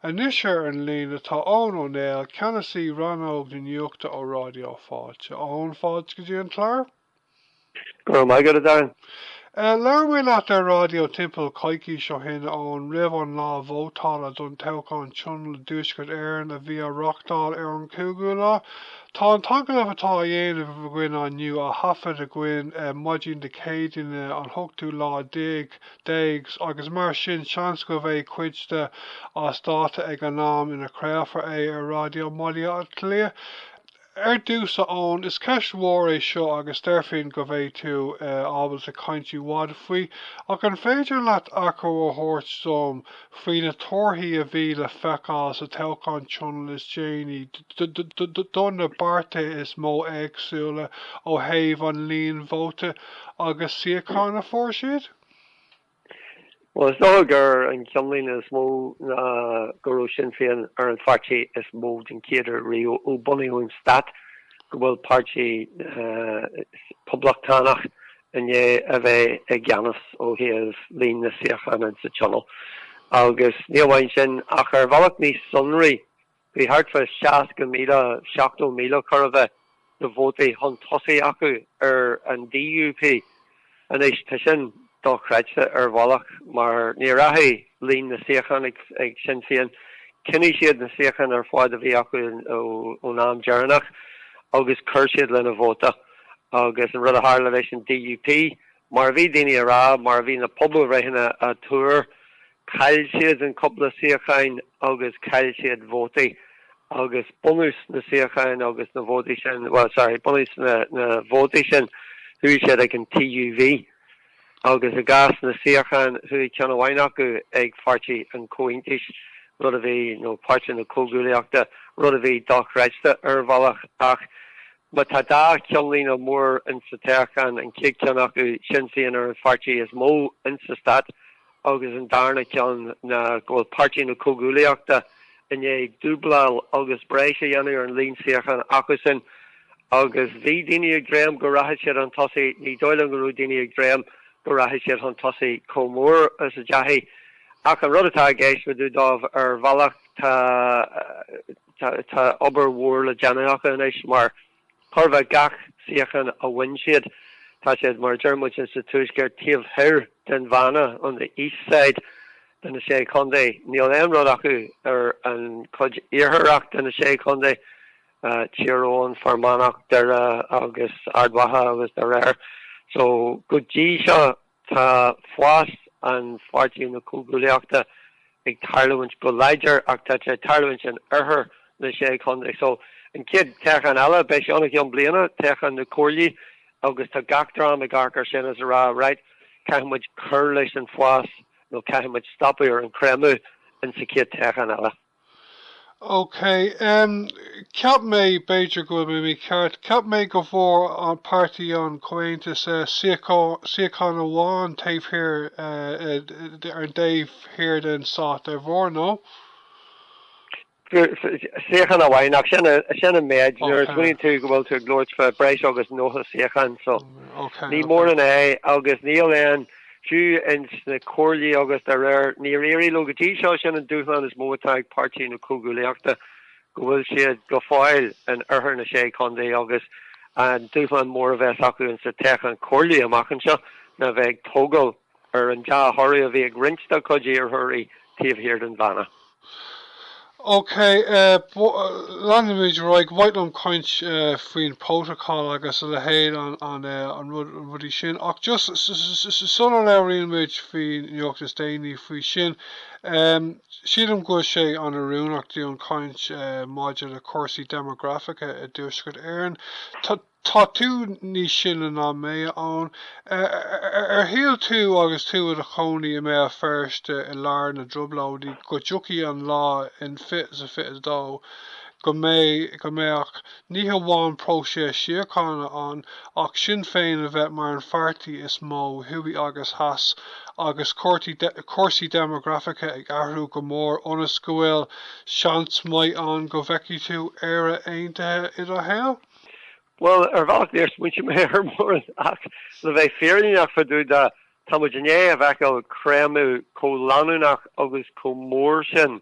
Anois ar an líne tá Eoghan Ó Néill, Ceannasaí Rannóg na Nuachta ó Raidió Fáilte. Eoghan, fáilte go dtí an clár. Go raibh maith agat, a Darren. Labhair mé leat ar raidió timpeall coicís ó shin, Eoghan, roimh an lá vótála don toghchán Tionól i dTuaisceart Éireann a bhí á reáchtáil ar an 5ú lá. Tá an t-agallamh atá á dhéanamh againn inniu á thaifead againn maidin Dé Céadaoin an t-ochtú lá déag déag agus mar sin seans go mbeidh cuid de as dáta ag an am ina gcraolfar é ar raidió i mBaile Átha Cliath. Ar dtús a Eoghan, is ceist mhór é seo agus déarfainn go mbeidh tú ábalta caint i bhfad faoi ach an féidir leat achoimre a thabhairt dom faoi na torthaí a bhí le feiceáil sa toghchán tionól is déanaí do na páirtithe is mó éagsúla ó thaobh an líon vóta Agus suíochán a fuair siad? Bhuel, is dócha gurb é an ceannlíne is mó ná go raibh Sinn Féin ar an pháirtí is mó den chéaduair riamh ó bunaíodh an stát go bhfuil páirtí poblachtánach i ndiaidh a bheith i gceannas ó thaobh líon na suíochán sa Tionól. Agus ní amháin sin ach ar bhealach níos sonraí Bhí thart fá seasca míle, seachtó míle chor a bheith, de vótaí chun tosaigh acu ar an DUP. Anois tá sin dochreidte ar bhealach mar níor athraigh líon na suíochán ag Sinn Féin, choinnigh siad na suíocháin ar fad a bhí acu ón am deireanach agus chuir siad lena vóta. Agus an rud a tharla leis an DUP, mar a bhí daoine ag rá, mar a bhí na pobalbhreitheanna ag tuar, Chaill siad cúpla suíochán agus chaill siad vótaí agus bunús na suíocháin agus na vótaí sin, bhuel, sorry, bunús na vótaí sin, chuaigh siad ag an TUV agus i gcás na suíochán chuaigh ceann amháin acu ag Páirtí an Chomhaontais, rud a bhí, nó Páirtí na Comhghuaillíochta, rud a bhí dochreidte ar bhealach ach má tá dhá cheannlíne mór insa toghchán, an chéad cheann acu, Sinn Féin ar an pháirtí is mó insa Stát, agus an darna ceann ná go bhfuil Páirtí na Comhghuaillíochta i ndiaidh dúbláil agus breis a dhéanamh ar an líon suíochán acusan agus bhí daoine ag dréim go rachadh siad chun tosaigh, ní dóigh liom go raibh daoine ag dréim go rachadh siad chun tosaigh chomh mór is a ndeachaigh. Ach an rud atá i gceist fá dtaobh dóibh ar bhealach, tá, tá obair mhór le déanamh acu anois mar, Chóir a bheith gach suíochán a bhain siad. Tá siad, mar a deir muid sa Tuaisceart, taobh thoir den Bhanna, on the east side, de na Sé Chontae. Níl aon rud acu ar an chuid iartharach de na Sé Chontae, Tír Eoghain, Fear Manach, Doire agus Ard Mhacha agus de réir. So go dtí seo. Tá fás ag Páirtí na Comhghuaillíochta ag tarlúint go láidir ach tá sé ag tarlúint in oirthear na Sé Chontae. So an chéad toghchán eile, beidh sé ann i gceann bliana, toghchán na comhairlí agus tá gach dream ag amharc ar sin is ag rá right, caithfidh muid cur leis an bhfás nó caithfidh muid stopadh ar an chreimeadh insa chéad toghchán eile. OK, em, cheap mé, b'fhéidir go bhfuil mé mícheart, cheap mé go bhfuair an Páirtí an Comhaontas, eh, suíochán, suíochán amháin taobh thiar, eh, eh, de, ar an dtaobh thiar den Stát, an bhfuair nó? Fuair, fuair, suíochán amháin ach sin a, sin an méid, nuair a smaoiníonn tú go bhfuil tú ag labhairt fá breis agus 90 suíochán so, OK, ní mórán é agus níl aon, fiú ins na comhairlí agus dá réir, níor éirigh leo go dtí seo. Sin an dúshlán is mó atá ag Páirtí na Comhghuaillíochta, go bhfuil siad go fóill in oirthear na Sé Chontae agus an dúshlán mór a bheas acu ins na toghcháin comhairlí amach anseo ná bheith ag tógáil ar an dea-thoradh a bhí ag roinnt dá gcuid iarrthóirí taobh thiar den Bhanna. OK, leanfaimid ar aghaidh. Ba mhaith liom caint faoin protocol agus a leithéid, na rudaí sin. Ach just sula labhraíonn muid faoin nuacht is déanaí faoi sin, sílim go bhfuil sé an-oiriúnach dúinn caint maidir le cúrsaí deimeagrafacha i dTuaisceart Éireann. Tá tú níos sine ná mé, a Eoin. Ar shíl tú agus tú i do chónaí i mBéal Feirste i lár na dTrioblóidí go dtiocfadh an lá in 2022 go mbeadh, ní hamháin próiseas síochána ann, ach Sinn Féin a bheith mar an pháirtí is mó, thuaidh agus theas, agus cúrsaí deimeagrafacha ag athrú go mór ionas go bhfuil seans maith ann go bhfeicfidh tú Éire Aontaithe i do shaol? Bhuel, ar bhealach níor smaointigh mé ar mórán ach le bheith fírinneach fá dtaobh de, tá muid i ndiaidh a bheith ag feiceáil creimeadh chomh leanúnach agus chomh mór sin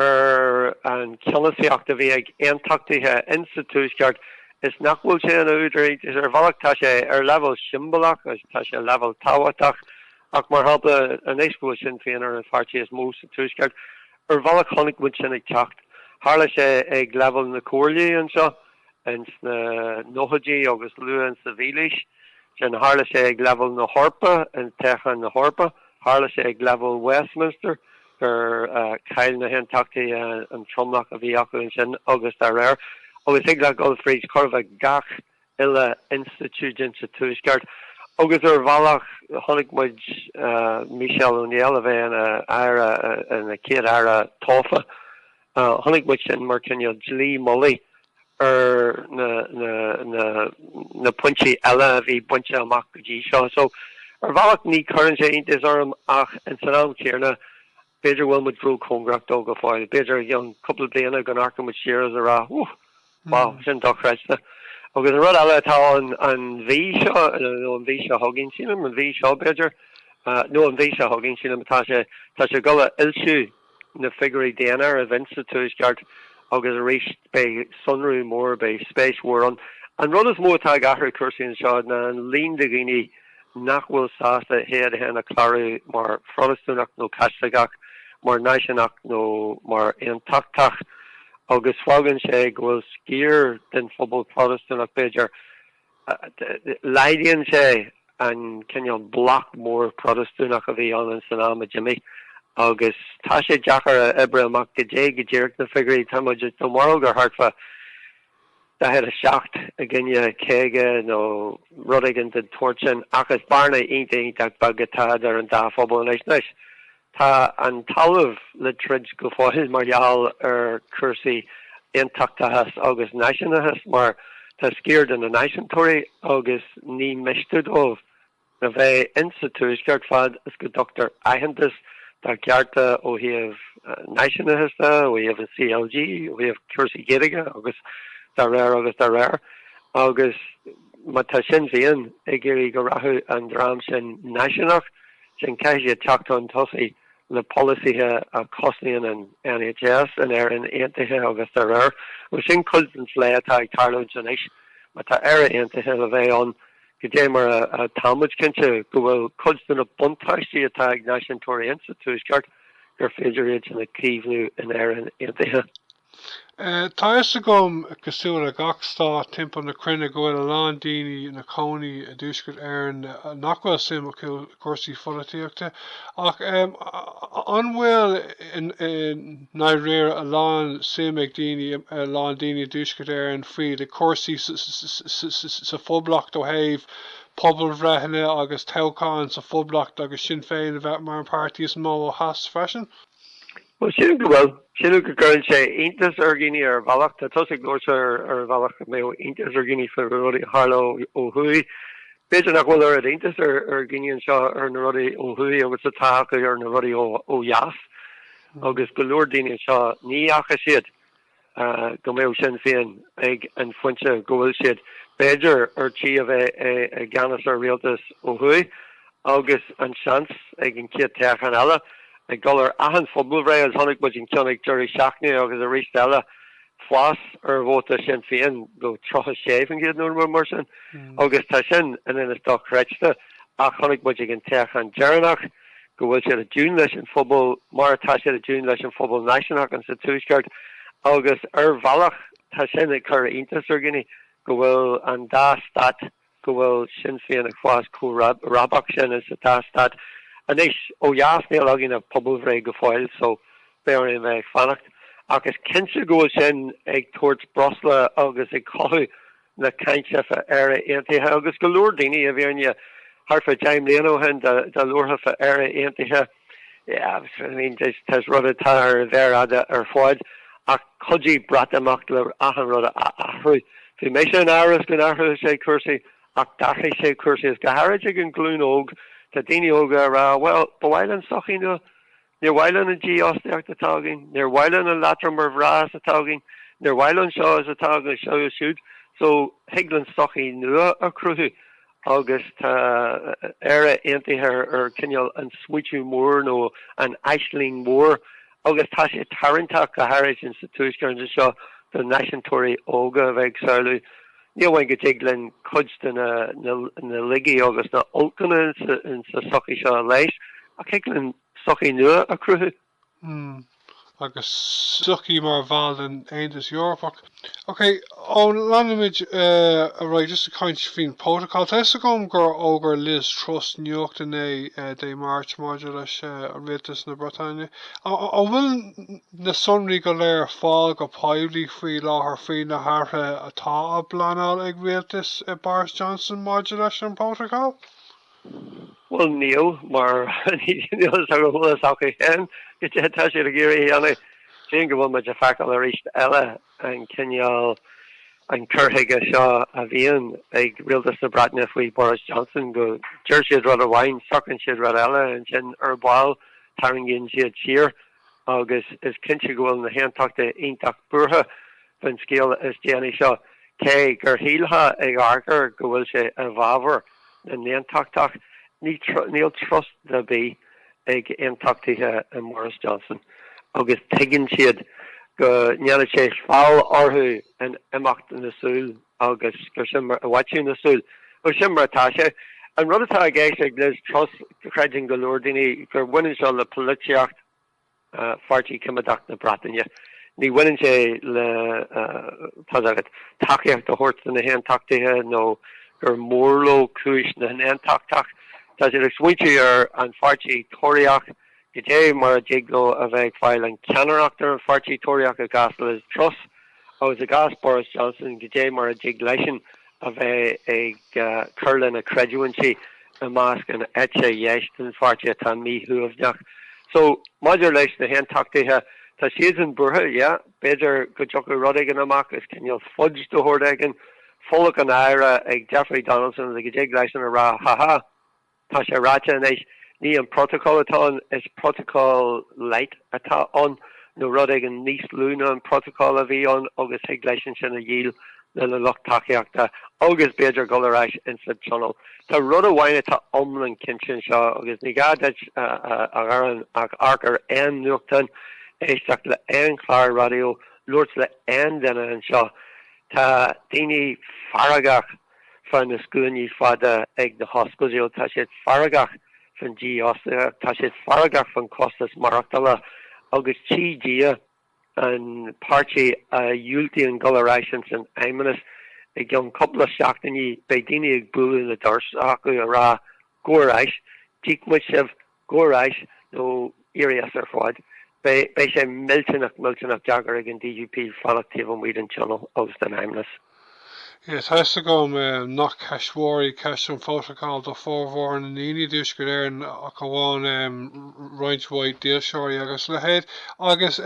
ar an cheannasaíocht a bhí ag aontachtaithe in sa Tuaisceart is nach bhfuil sé ina údar iontais. Ar bhealach tá sé ar leibhéal siombalach agus tá sé ar leibhéal tábhachtach ach mar shampla anois go bhfuil Sinn Féin ar an pháirtí is mó sa Tuaisceart, Ar bhealach chonaic muid sin ag teacht. Tharla sé ag leibhéal na comhairlí anseo ins na nóchaidí agus luath insa mhílaois seo. Tharla sé ag leibhéal na hEorpa i dtoghcháin na hEorpa. Tharla sé ag leibhéal Westminster gur chaill na hAontachtaithe an tromlach a bhí acu ansin agus dá réir. Agus thig leat dhul fríd chor a bheith gach. uile institiúid insa Tuaisceart agus ar bhealach chonaic muid, Michelle O'Neill a bheith ina aire, ina chéad aire tofa, chonaic muid sin mar cineál dlaoi mhullaigh ar na pointí eile a bhí bainte amach go dtí seo. So, ar bhealach ní chuireann sé iontas orm ach ins an am céanna B'fhéidir go bhfuil muid róchóngarach dó go fóill. B'fhéidir i gcionn cúpla bliana go n-amharcfaidh muid siar ag rá, Whoo! Wow, sin dochreidte. Agus an rud eile atá ann, an mhí seo, nó an mhí seo chugainn, sílim, an mhí seo, b'fhéidir, nó an mhí seo chugainn, sílim atá sé, tá sé ag dul a fhoilsiú na figiúirí daonáireamh ins sa Tuaisceart agus arís beidh sonrú mór, beidh spéis mhór ann. An rud is mó atá ag athrú cúrsaí anseo ná an líon de dhaoine, nach bhfuil sásta iad féin a chlárú mar Phrotastúnach nó Chaitliceach, mar náisiúnach nó mar aontachtach, agus fágann sé go bhfuil sciar den phobal Protastúnach, b'fhéidir, laghdaíonn sé an cineál bloc mór Protastúnach a bhí ann san am a d'imigh agus tá sé deacair a oibriú amach go dté go díreach na figiúirí, tá muid i mbarróg ar thart fá 47, i gcoinne 50 nó rud éigin den tseort sin, ach is bearna iontach, iontach beag atá idir an dá phobal anois. Anois, tá an talamh le troid go fóill mar gheall ar chúrsaí aontachtachais agus náisiúnachais, mar tá sciar de na náisiúntóirí agus ní miste dóibh a bheith insa Tuaisceart fad is go dtugtar aitheantas dá gcearta ó thaobh náisiúnachas de, ó thaobh an CLG, ó thaobh cúrsaí Gaeilge agus dá réir agus dá réir. Agus má tá Sinn Féin ag iarraidh go rachadh an dream náisiúnach sin, caithfidh siad teacht chun tosaigh le polasaithe a chosnaíonn an NHS, in Éirinn Aontaithe agus dá réir. Agus sin cuid den phlé atá ag tarlúint anois. Má tá Éire Aontaithe le bheith ann, go dté mar atáimid cinnte go bhfuil cuid de na buntáistí atá ag náisiúntóirí ins sa Tuaisceart gur féidir iad sin a chaomhnú in Éirinn Aontaithe. Tá fhios agam, cosúil le gach stát timpeall na cruinne, go bhfuil a lán daoine ina gcónaí i dTuaisceart Éireann nach bhfuil suim acu i gcúrsaí pholaitíochta ach an bhfuil i ndáiríre a lán suim ag daoine a lán daoine i dTuaisceart Éireann faoi chúrsaí sa Phoblacht ó thaobh pobalbhreitheanna agus toghcháin sa Phoblacht agus Sinn Féin a bheith mar an páirtí is mó ó theas freisin. Bhuel, sílim go bhfuil. Sílim go gcuireann sé iontas ar dhaoine ar bhealach. Tá tusa ag labhairt ar bhealach go mbeadh iontas ar dhaoine faoi rudaí a tharlódh ó thuaidh. B'fhéidir nach bhfuil oiread iontas ar ar dhaoine anseo ar na rudaí ó thuaidh agus atá acu ar na rudaí ó dheas. Agus go leor daoine anseo ní fhaca siad go mbeadh Sinn Féin ag an phointe go bhfuil siad, b'fhéidir ar tí a bheith i gceannas ar Rialtas ó thuaidh agus an seans ag an chéad toghchán eile ag dul ar achan phobalbhreith agus chonaic muid an ceann ag deireadh seachtaine agus aríst eile fás ar vóta Sinn Féin do 36% nó rud mar sin agus tá sin ann féin dochreidte ach chonaic muid ag an toghchán deireanach go bhfuil siad i dtiúin leis an phobal mar atá siad i dtiúin leis an phobal náisiúnach ins an Tuaisceart agus ar bhealach tá sin ag cur iontas ar dhaoine go bhfuil an dá stát, go bhfuil Sinn Féin ag fás chomh rábach sin ins an dá stát. Anois ó dheas níl againn ach pobalbhreith go fóill so beidh orainn a bheith ag fanacht. Ach is cinnte go bhfuil sin ag tabhairt breosla agus ag cothú, na cainte fá Éire Aontaithe agus go leor daoine i bhfírinne thart fá deich mbliana ó shin dá labharfá fá Éire Aontaithe yeah I mean tá sé rud atá ar an mhéar fhada ar fad ach chuidigh Breatimeacht le achan rud a athrú. Bhí mise in amhras go n-athródh sé cúrsaí ach d'athraigh sé cúrsaí is go háirid ag an ghlúin óg tá daoine óga a rá bhuel ba mhaith linn sochaí nua Níor mhaith linn an dífhostaíocht atá againn, níor mhaith linn an leatrom mar bharraíocht atá againn, níor mhaith linn seo is atá againn seo siúd, so thig linn sochaí nua a chruthú agus tá Éire Aontaithe ar cineál an smaoitiú mór nó an aisling mhór agus tá sé tarraingteach go háirid ins an Tuaisceart anseo do náisiúntóirí óga a bheith ag samhlú Ní amháin go dtig linn cuid de na laigí agus na holcanna in sa sochaí seo a leigheas ach thig linn sochaí nua a chruthú. Hmm. Agus sochaí mar bhall den Aontas Eorpach. Ok, ó leanfaimid ar aghaidh just ag caint faoin protocol. Tá fhios agam gur fhógair Liz Truss nuacht inné, Dé Máirt, maidir leis an rialtas na Breataine. An bhfuil na sonraí go léir ar fáil go poiblí faoi láthair faoi na hathruithe atá á bpleanáil ag rialtas Boris Johnson maidir leis an bPrótacál? Bhuel, níl, mar níl fhios agam bhfuil fhios acu féin cad é atá siad ag iarraidh a dhéanamh. Sílim go bhfuil muid ag feiceáil arís eile an cineál, an cur chuige seo a bhíonn ag rialtas na Breataine faoi Boris Johnson, go, deir siad rud amháin, socraíonn siad rud eile, ansin ar ball tarraingíonn siad siar. agus is cinnte go bhfuil na hAontachtaithe iontach buartha faoin scéal is déanaí seo, cé gur shílfeá ag amharc air go bhfuil sé i bhfabhar na nAontachtach. Níl trust ar bith ag Aontachtaithe i Boris Johnson agus tuigeann siad go ndéanfaidh sé feall orthu in imeacht na súl Agus gur sin mar, i bhfaiteadh na súl, gur sin mar atá sé. An rud atá i gceist ag Liz Truss, creideann go leor daoine, gur bhaineann seo le polaitíocht Pháirtí Coimeadach na Breataine. Ní bhaineann sé le, tá a fhios agat, tacaíocht a thabhairt do na hAontachtaithe nó gur mór leo cúis na nAontachtach. Tá siad ag smaointiú ar an Pháirtí Tóraíoch. goidé mar a dtig leo a bheith ag fáil an cheannaireacht ar an pháirtí Tóraíoch i gcás Liz Truss agus i gcás Boris Johnson goidé mar a dtig leisean a bheith ag cur lena chreidiúintí i measc an eite dheis den pháirtí atá míshuaimhneach so maidir leis na hAontachtaithe tá siadsan buartha yeah b'fhéidir go dtiocfadh rud éigin amach as cineál fudge de shórt éigin folach a náire ag Jeffrey Donaldson le go dtig leisean a rá ha ha Tá sé ráite anois, ní an Protocol atá ann, is Protocol Light atá ann, nó rud éigin níos lú ná an Protocol a bhí ann agus thig leis ansin a dhíol lena lucht tacaíochta agus b'fhéidir dhul ar ais ins an Tionól. Tá rud amháin atá iomlán cinnte anseo agus ní gá duit a dhéanamh ach amharc ar aon nuachtán, éisteacht le aon chlár raidió, labhairt le aon duine anseo, tá daoine feargach. fá na scuainí fada ag na hospidéil, tá siad feargach fán dífhostaíocht, tá siad feargach fán costas maireachtála agus tchí Dia an páirtí a dhiúltaíonn dul ar ais ins an Fheidhmeannas i gceann cúpla seachtainí beidh daoine ag bualadh na doirse acu a rá, Gabh ar ais, d'íoc muid sibh Gabh ar ais nó éirigh as ar fad. Beidh sé millteanach, millteanach deacair ag an DUP fanacht taobh amuigh den Tionól agus den Fheidhmeannas. Yeah, tá a fhios agam nach ceist mhór í ceist an phrótacail do formhór na ndaoine i dTuaisceart Éireann ach amháin roinnt mhaith dílseoirí agus a leithéid. Agus.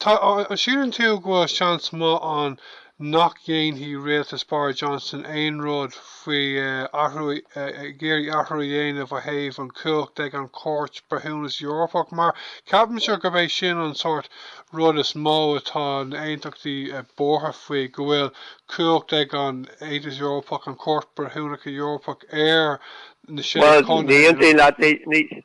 Tá, an síleann tú go bhfuil seans maith ann nach dhéanfaidh rialtas Boris Johnson aon rud faoi athrú, ag iarraidh athrú a dhéanamh ó thaobh an chumhacht ag an Chúirt Breithiúnas Eorpach mar ceapaimse gurb é sin an sórt rud is mó atá na aontachtaithe buartha faoi, go bhfuil cumhacht ag an Aontas Eorpach, an Chúirt Breithiúnacha Eorpach ar na Sé Chontae, you know. Bhuel, ní aontaím leat, ní, ní,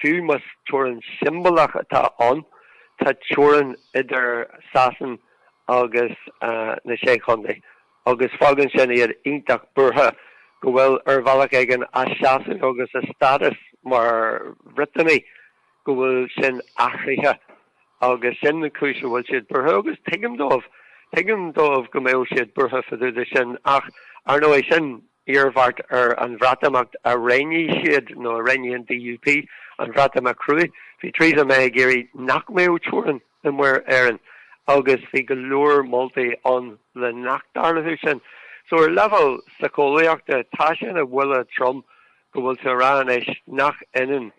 Fiú más teorainn siombalach atá ann, tá teorainn idir Sasain agus na Sé Chontae agus fágann sin iad iontach buartha go bhfuil, ar bhealach éigin, a seasamh agus a stádas mar Bhriotanaigh, go bhfuil sin athraithe agus sin an chúis a bhfuil siad buartha agus tuigim dóibh. Tuigim dóibh go mbeadh siad buartha fá dtaobh de sin ach, ar ndóigh, sin. iarmhairt ar an Bhreatimeacht a roghnaigh siad nó a roghnaigh an DUP, an Bhreatimeacht cruaidh. Bhí Theresa May ag iarraidh nach mbeadh teorainn i Muir Éireann agus bhí go leor moltaí ann le nach dtarlódh sin. So ar leibhéal síceolaíochta tá sin ina bhuille trom go bhfuil tú a rá anois nach ionann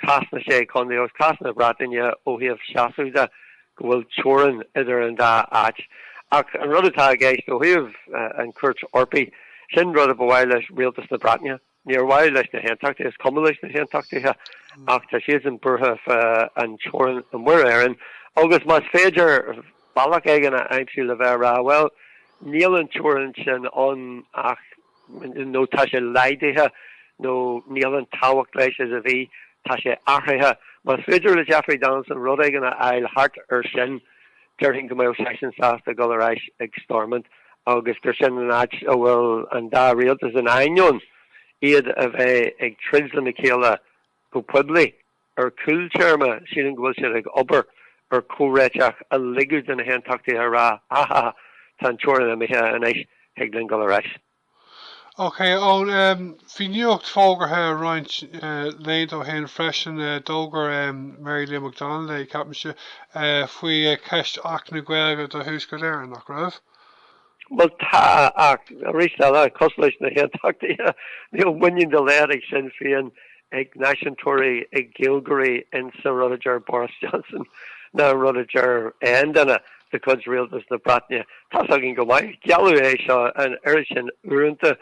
cás na Sé Chontae agus cás na Breataine ó thaobh seasaimh de. go bhfuil teorainn idir an dá áit. Ach an rud atá i gceist ó thaobh an Chúirt Eorpaigh, sin rud a ba mhaith le Rialtas na Breataine. Níor mhaith leis na hAontachtaithe, is cuma leis na hAontachtaithe, ach tá siadsan buartha fá an teorainn i Muir Éireann. Agus más féidir bealach éigin a aimsiú le bheith a rá, bhuel, níl an teorainn sin ann ach nó tá sé laghdaithe, nó níl aon tábhacht leis is a bhí, tá sé athraithe. Más féidir le Jeffrey Donaldson rud éigin a fháil thart air sin, déarfainn go mbeadh seisean sásta dul ar ais ag Stormont agus gur sin an áit a bhfuil an dá rialtas, in ainneoin iad a bheith ag troid leis na chéile go poiblí. ar chúl téarmaí, sílim go bhfuil siad ag obair ar chomhréiteach a ligfidh do na hAontachtaithe a rá, aha, tá an teorainn imithe anois, thig linn dul ar ais. Ok, Eoin, bhí nuacht fógartha roinnt laethanta ó shin freisin, d'fhógair Mary Lou McDonald é, ceapaimse, faoi cheist Acht na Gaeilge do Thuaisceart Éireann, nach raibh? Bhuel tá, ach arís eile, cosúil leis na hAontachtaithe, níl muinín dá laghad ag Sinn Féin, ag náisiúntóirí, ag Gaeilgeoirí ins an rud a deir Boris Johnson ná an rud a deir aon duine de chuid Rialtas na Breataine. Tá's againn go maith, gealladh é seo an oiread sin uaireanta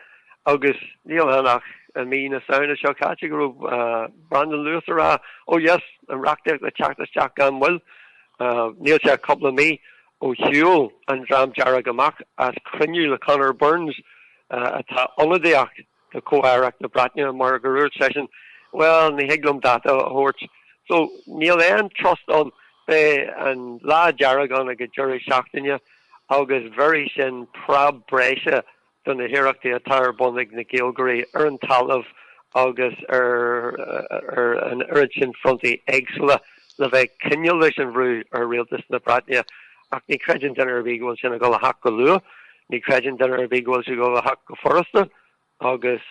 agus níl ann ach i mí na Samhna seo caite go raibh Brandon Lewis a rá, oh yes, an reachtaíocht ag teacht isteach gan mhoill, níl sé cúpla mí. Ó shiúil an Dream Dearg amach as cruinniú le Conor Burns, atá ag ionadaíocht do chomh-aireacht na Breataine, mar gur dhúirt seisean, Bhuel, ní thig liom dáta a thabhairt. So, níl aon trust ann. Beidh an Lá Dearg ann ag an deireadh seachtaine agus bheirfidh sin preab breise do na hiarrachtaí atá ar bun ag na Gaeilgeoirí ar an talamh agus ar an oiread sin frontaí éagsúla le bheith ag coinneáil leis an bhrú ar Rialtas na Breataine. Ach ní chreideann duine ar bith go bhfuil sin ag dul a theacht go luath, ní chreideann duine ar bith go bhfuil sin ag dul a theacht go furasta agus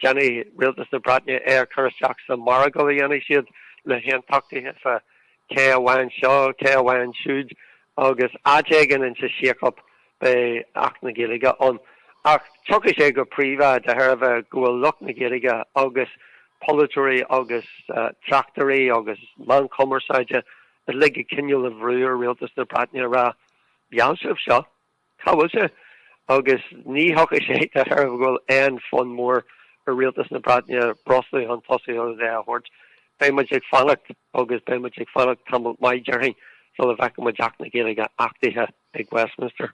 déanfaidh Rialtas na Breataine é a chur isteach sa mhargadh a dhéanfaidh siad le hAontachtaithe fá cé a bhain seo, cé a bhain siúd agus áit éigin insa síochán Beidh Acht na Gaeilge ann, ach tiocfaidh sé go príomha de thairbhe go bhfuil lucht na Gaeilge agus polaiteoirí agus tráchtairí agus meáin chumarsáide uilig ag coinneáil an bhrú ar Rialtas na Breataine a rá, Gheall sibh seo, cá bhfuil sé? Agus ní thiocfaidh sé de thairbhe go bhfuil aon fonn mór ar Rialtas na Breataine brostú chun tosaigh agus é a thabhairt. Beidh muid ag fanacht agus beidh muid ag fanacht tamall maith déarfainn sula bhfeicfidh muid Acht na Gaeilge achtaithe. ag Westminster.